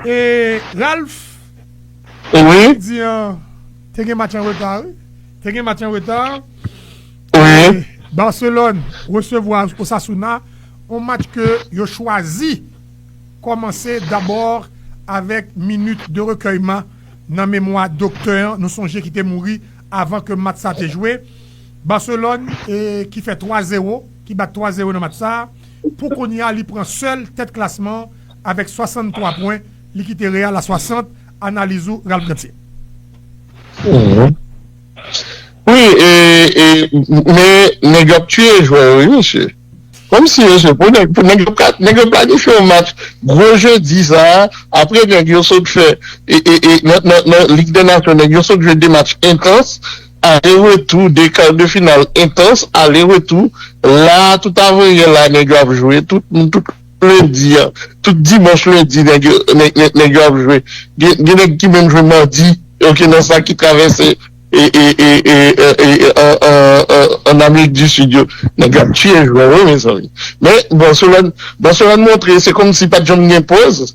E Ralph, apremidi an, te gen match an reta wi. Te gen match an reta. Barcelone resevwa Osasuna, yon match ke yo chwazi kòmanse dabò avèk minit de rekèyman nan memwa doktè an, nou sonje ki te mouri avan ke match sa te jwe. Barcelone ki fè 3 zewo, ki bat 3 zewo nan match sa. Pou kounye a li pran sèl tèt klasman an avèk 63 pwen, li kite Real a 60, analiz ou Ralph Ganthier. Wi e men nèg yo ap tiye jwè yo wi mesye kòm si yo se pou nèg pou nèg yo ka nèg yo planifye yon match gwo jedi sa apre nèg yo sot fè e e nan nan lig dè nasyon nèg yo sot jwe 2 match entans Ale retou 2 kar de final entans ale retou la tout avan yè la nèg yo ap jwe tout lendi an tout dimanch lendi nèg yo ap jwe gen nèg ki menm jwe madi ok nan sa ki travèse an amerik di sid yo nèg yo ap tiye jwè wi mezanmi men Barcelone montre se kòmsi pat janm gen poz.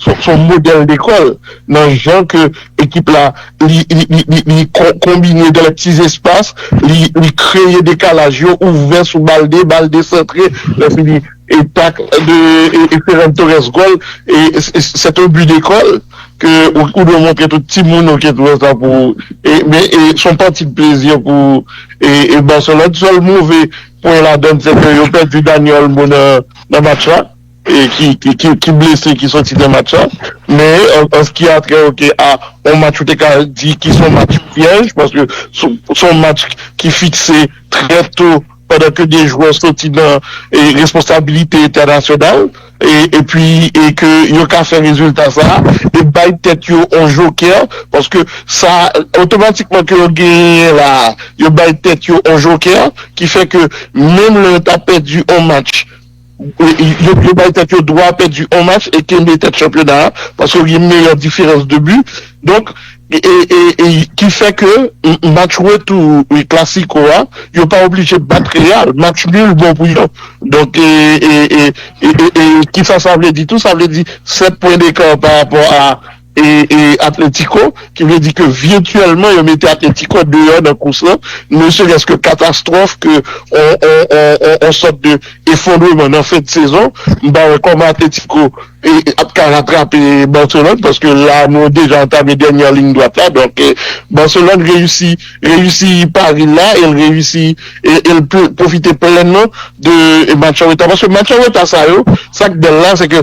Son modèl lekòl nan jan ke ekip la li konbine dan lè pti zespas, li kreye dekalaj yo, ouvè sou Balde, Balde santre, lè fini e tak de Ferran Torres gòl. C'est un but d'école ke ou dwe montre tout timoun ok tou wè sa pou men son pati de plaisir pou Barcelone. Sèl move pwen ladann se ke yo pèdi Dani Olmo nan match la. ki blese ki sòti nan match la men an ski a trè ok a yon match ou te ka di ki son match pyèj paske son match ki fikse trè to pandan ke 2 jwè sòti nan responsabilite entènasyonal epi ke yo ka fè rezilta sa e bay tèt yo yon jokè paske sa otomatikman ke yo genyen la yo bay tèt yo yon jokè ki fè ke menm lè yo ta pèdi yon match Yo bay tèt yo dwa pèdi on match e kenbe tèt chanpyona a paske yo gen meyè diferans de bi donk ki fè ke match retou klasiko a yo pa oblije bat Real match nul bon pou yo donk e kisa sa vle di tou sa vle di 7 pwen dekar parapò a Atletico, ki vle di ke virtuellement yo mete Atletico deyò nan kous lan, ne serait-ce que catastrophe que on sorte de effondrement nan fen de saison, m pa wè kòman Atletico ap ka ratrape Barcelone paske la nou deja antame dernière ligne droite la, donk Barcelone reyisi reyisi pari l la e l reyisi e l pwofite plenman de match an reta paske match an reta sa yo, sa k bèl la se ke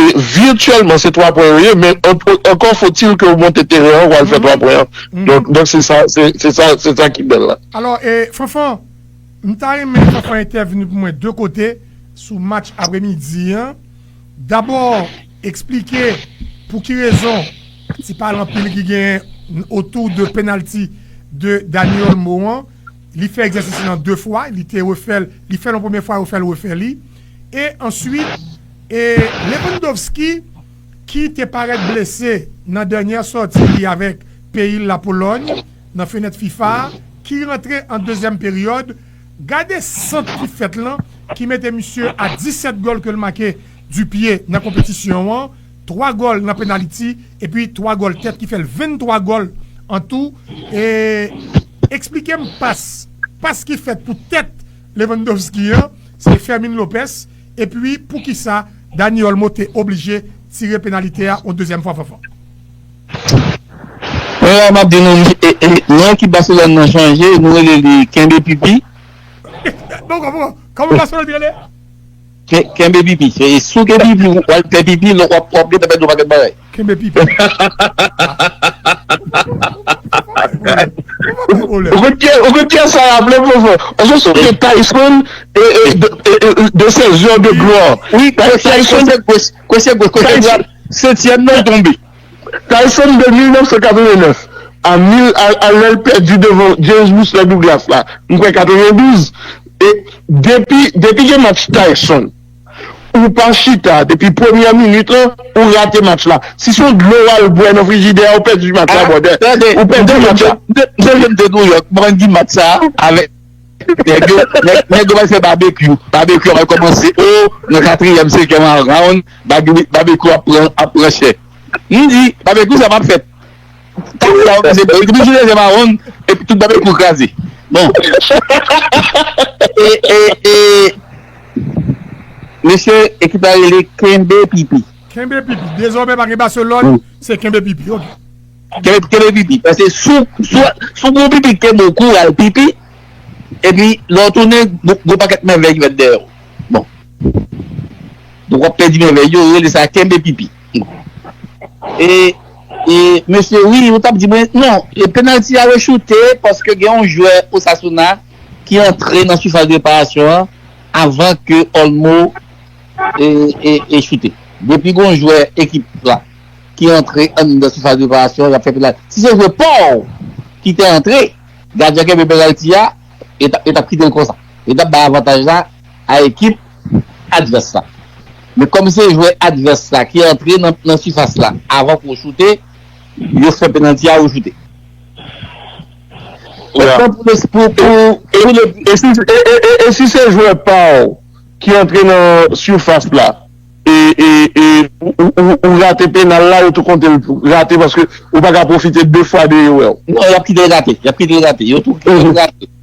E virtuellement se 3 pwen yo ye men ankò fo til ke ou monte teren an pou al fè 3 pwen an. Donk se sa se sa ki bèl la. Alò e Fanfan, m ta renmen Fanfan entèvni pou mwen 2 kote sou match apremidi an. Dabò eksplike pou ki rezon ti pale anpil ki genyen otou de penalti de Dani Olmo an. Li fè egzèsis lan 2 fwa, li te refè l, li fè l yon premye fwa, yo fè l refè li. E answit E Lewandowski ki te parèt blese nan dènyè sòti li avèk peyi l la Polòny nan fenèt fifa a ki rantre an dezyèm peryòd gade sant ki fèt lan ki mete misye a 17 gòl ke l make di pye nan konpetisyon an 3 gòl nan penaliti epi 3 gòl tèt ki fè l 23 gòl an tou e eksplike m pas pas ki fèt pou tèt Lewandowski an se Fermin Lopez. Epi poukisa Dani Olmo te oblije tire penalite a yon dezyèm fwa Fanfan? Mwen la map di nou non ekip Barcelone nan chanje nou rele li kenbe pipi. Mwen pa konpran, kòman Barcelone te rele? Kenbe pipi, souke pipi wap fè pipi lè wap gen tanpèt yon pakèt bagay. Kenbe pipi. Ou konn pyès sa yo ap lè pwofè? Ou se sou pye Tyson de ses heures de gloire. Wi Tyson de gwòs kote gwòs setyèm nan tonbe. Tyson de 1989 a lè l pèdi devan James Whistler Douglas la m kwè 92 e depi gen match Tyson. Ou pa chita depi premyè minit lan ou rate match la si son dlo wal bwè nan frijidè a ou pèdi match la brother ou pèdi match la. M te sonje m te Nouyòk m rann di match sa avèk nèg yo nèg yo pral fè babekyou babekyou pral kòmanse o nan katriyèm senkyèm round babekyou ap pran ap pran chè m di babekyou sa pap fèt. Kounya yo pase bon, yo te toujou leve mawon epi tout babèk pou kraze. Bon. E e e Mesye ekip la rele kenbe pipi. Kenbe pipi. Dezòmè pa gen Barcelone, se kenbe pipi ok. Kenbe pipi. Pase sou sou gwo pipi ke mou kou al pipi epi lè w tounen gwo pakèt mèvèy ki fèt dèyè w. Bon. Donk w ap pèdi mèvèy yo, yo rele sa kenbe pipi. E e mesye wi ou tap di mwen non e penalty a rechoute paske gen yon jwè Osasuna ki antre nan sifas de reparasyon an avan ke Olmo e e e choute depi gon jwè ekip la ki antre anndan sifas de reparasyon yap fè penalty si se jwè paw ki te antre gadyen kenbe penalty a e tap e tap kitel konsa e tap bay avantaj la a ekip advès la. Men kòm se jwè advès la ki antre nan sifas la avan pou choute, yo fè penalti a ou choute. Otan pou le. E si se jwè pa w ki antre nan sifas la e ou rate penal la, yo tou konte l rate paske ou pa ka pwofite 2 fwa de yo wè w. Non, y ap kite l rate. Y ap kite l rate. Yo tou kite l rate.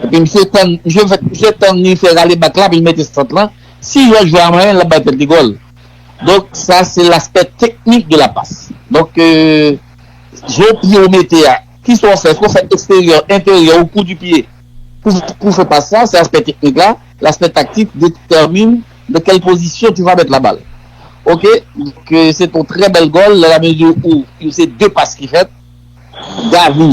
Epi misye tann, misye fè, misye tann li fè rale bak la pou li mete sant lan, si yon jwè a manyen lap bay tèt li gòl. Donk sa se laspè teknik de la pas. Donk zo pye ou mete a, kisa ou fè, èske ou fè eksteryè, enteryè ou kou di pye pou ou fè pas sa, se aspè teknik la, laspè taktik detèmine nan kèl pozisyon tu vas mettre la balle. Ok, donk se ton trè bèl gòl nan la mezi ou se 2 pas ki fèt, Gavi,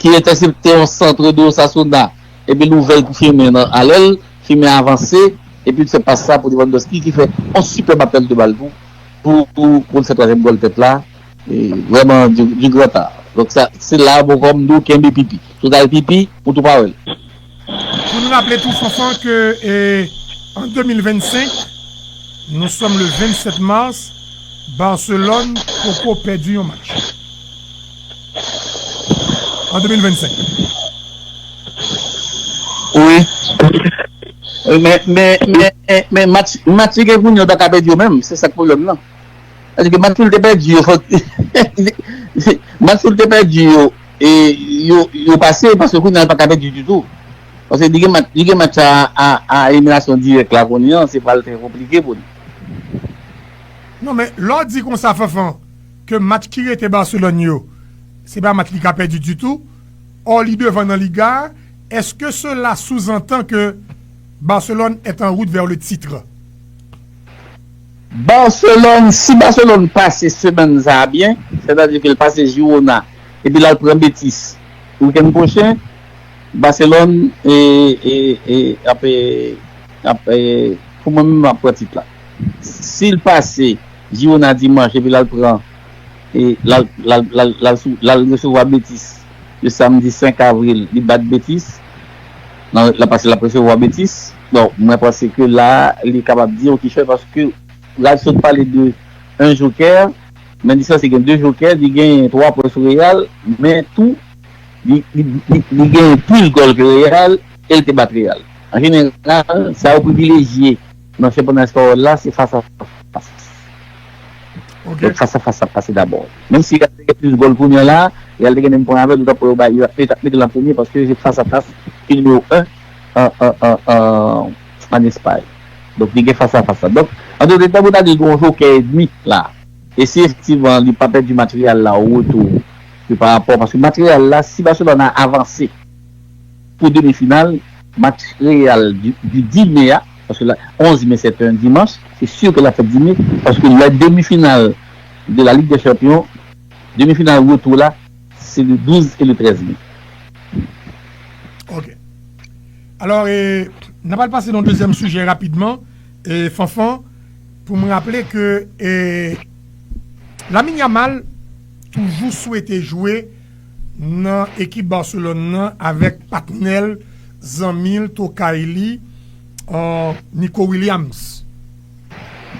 ki entèsepte yon santre de Osasuna epi l ouvè l pou Firmin nan alè l, Firmin avanse epi l fè pas sa pou Lewandowski ki fè yon sipèb apèl de bal tou pou l fè twazyèm gòl tèt la, vrèman du grand art. Donk se la a Bocom di w kenbe pipi. Si w t al pipi, ou tou pa wè l. Pou n raple tou Fanfan ke an 2025, nou sòm le 27 mars, Barcelòn poko pèdi yon match an 2025. Wi, men match Vitinha ta ka pèdi yo menm, se sa k pwoblèm nan. Paske match li te pèdi yo fòk match li te pèdi yo e yo pase paske kounye a li pa ka pèdi ditou. Paske li gen match sa a eliminasyon dirèk la kounye an se pral trè konplike pou li. Non men lè w di konsa Fanfan ke match ki rete Barcelone yo se pa match li ka pèdi ditou ò li devan nan Liga a eske sela souzantan ke Barcelone est en route vers le titre? Barcelone, si Barcelone pase semèn sa a byen, sètadi ke l pase Girona epi l al pran Betis wikenn pwochen, Barcelone ap ap pou mwen menm ap pran tit la. Si l pase Girona dimanch epi l al pran l al resevwa Betis le samdi 5 avril li bat Betis, l ap pase l ap resevwa Betis. Bon, mwen panse ke la a, li kapab di yon kichòy paske Ralph sot pale de 1 jokè, men li sanse gen 2 jokè, li genyen 3 pwen sou Real, men tou, li genyen plis gòl ke Real e l te bat Real. An jeneral, sa yo privilejye nan chanpyona espayòl la se fas a fas. Donk fas a fas ap pase dabò. Menm si Real te gen plis gòl kounye an la a, Real te gen menm pwen avè l, ou t ap wè yo bay, yo t ap mete l an premye paske se fas a fas ki nimewo 1. an Espay. Donk li gen fas a fas la. Donk, an tout eta pou ta di gen yon jokè edmi la. E si efektivman li pa pèdi match Real la o retou e pa rapò paske match Real la si Barcelona avanse pou demi final match Real di 10 me a paske la 11 me sèt yon dimanch se sur ke l ap fèt 10 me paske lè demi final de la Ligue des Champions demi final retou la Se le 12 e le 13 me. Ok. Alò e nan pral pase nan dezyèm sijè rapidman e Fanfan pou m raple ke e Lamine Yamal toujou swete jwe nan ekip Barcelone nan avèk patnè l, zanmi l, tokay li Nico Williams.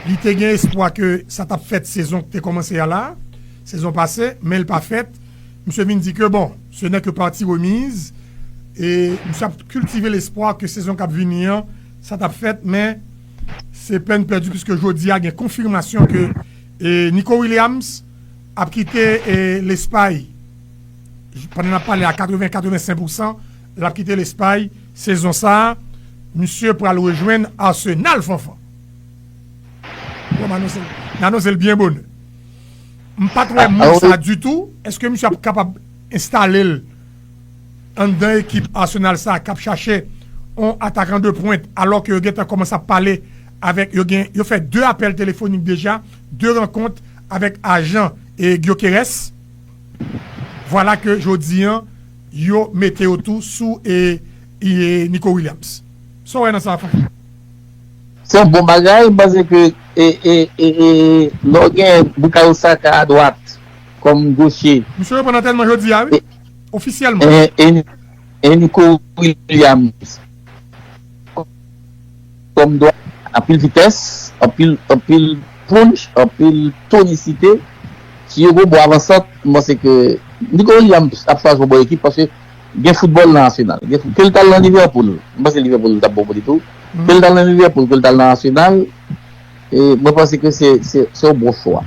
Li te gen espwa ke sa t ap fèt sezon ki te kòmanse a la. Sezon pase, men l pa fèt. Misye vin di ke bon, se nè ke pati remiz, e misye ap kiltive lespwa ke sezon k ap vini an, sa t ap fèt, men se pèn pèdi puiske jodi a gen konfimasyon ke Nico Williams ap kite Lespay, pandan n ap pale a 80, 85 pousan, l ap kite Lespay sezon sa, misye pral rejwenn Arsenal, Fanfan. Bon, m anonse l, n anonse l byen bonè. M pat wè move sa ditou, eske misye ap kapab enstale l anndan ekip Arsenal sa kap chache yon atakan de pwent alò ke yo gentan kòmanse ap pale avèk yo gen yo fè 2 apèl telefonik deja, 2 rankont avèk ajan Gyökeres. Vwala ke jodi an yo mete yo tou sou Nico Williams. Sa w wè nan sa Fred? Se yon bon bagay panse ke lè w gen Bukayo Saka a dwat kòm goche. Misye reponn antènman jodi a wi, ofisyèlman. E Nico Williams kòm dwat. Anpil vitès, anpil punch, anpil tonisite. Si yo gen yon bon avansant, m panse ke Nico Williams ap chwazi yon bon ekip paske Gen foutbòl nan Arsenal. Ke l t al nan Liverpool, m panse Liverpool li t ap bon pou li tou. Ke l t al nan Liverpool, ke l t al nan Arsenal, mwen panse ke se yon bon chwa.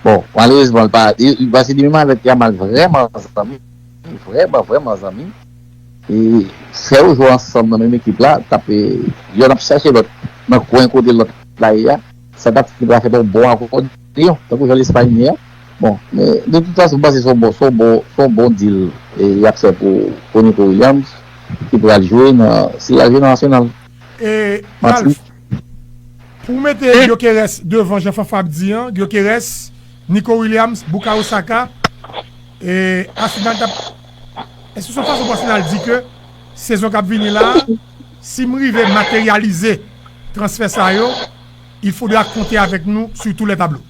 Bon, malerezman, paske li menm avèk Yamal vrèman zanmi, vrèman, vrèman zanmi. E fè yo jwe ansanm nan menm ekip la, t ap, yonn ap chache lòt nan kwen kote lòt la ye a, sa t ap fè yon bon akò. Lyon, tankou jan Lespay ye a. Bon, men de tout fason m panse se yon bon, se yon bon, se yon bon deal y ap fè pou Nico Williams ki pral jwe nan, si l al jwe nan Arsenal. E Ralph, pou w mete Gyökeres devan jan Fanfa ap di an, Gyökeres, Nico Williams, Bukayo Saka, e Arsenal t ap, èske se yon fason pou Arsenal di ke sezon k ap vini la a, si m rive materyalize transfè sa yo, Il faudra konte avèk nou sur tous les tableaux.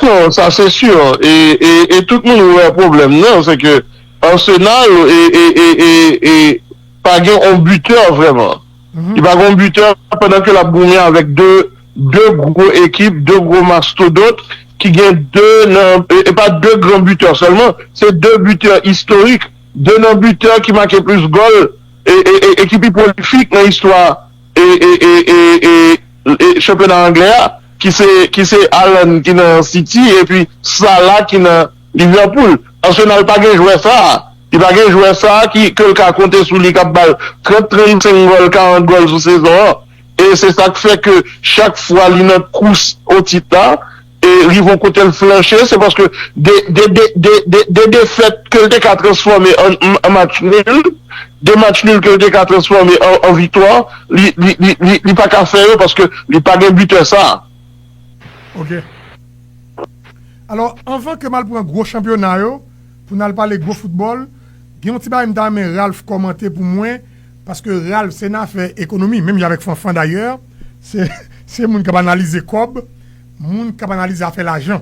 Non sa se sur e tout moun wè pwoblèm nan se ke Arsenal pa gen yon buteur vrèman. Li pa gen yon buteur pandan ke lap goumen avèk 2 gwo ekip, 2 gwo mastodont ki gen 2 nan e pa 2 gran buteur sèlman se 2 buteur istorik, 2 nan buteur ki make plis gòl e ki pi prolifik nan istwa E e e e e e chanpyona anglè a ki se ki se Haaland ki nan City epi Salah ki nan Liverpool. Arsenal pa gen jwè sa a. Li pa gen jwè sa a ki ke l ka konte sou li k ap ba l 30, 35 gòl, 40 gòl sou sezon an. E se sa k fè ke chak fwa li nan kous otit la, e rive yon kote l flanche, se paske de defèt ke l te ka transfòme an match nul, de match nul ke l te ka transfòme an viktwa, li pa ka fè yo paske li pa gen bitè sa a. Ok. Alò, anvan ke m al pran gwo chanpyona yo, pou n al pale gwo foutbòl, gen yon ti bagay m ta renmen Ralph kòmante pou mwen, Paske Ralph se nan afè ekonomi menm jan avèk Fanfan dayè se moun k ap analize kòb, moun k ap analize afè lajan.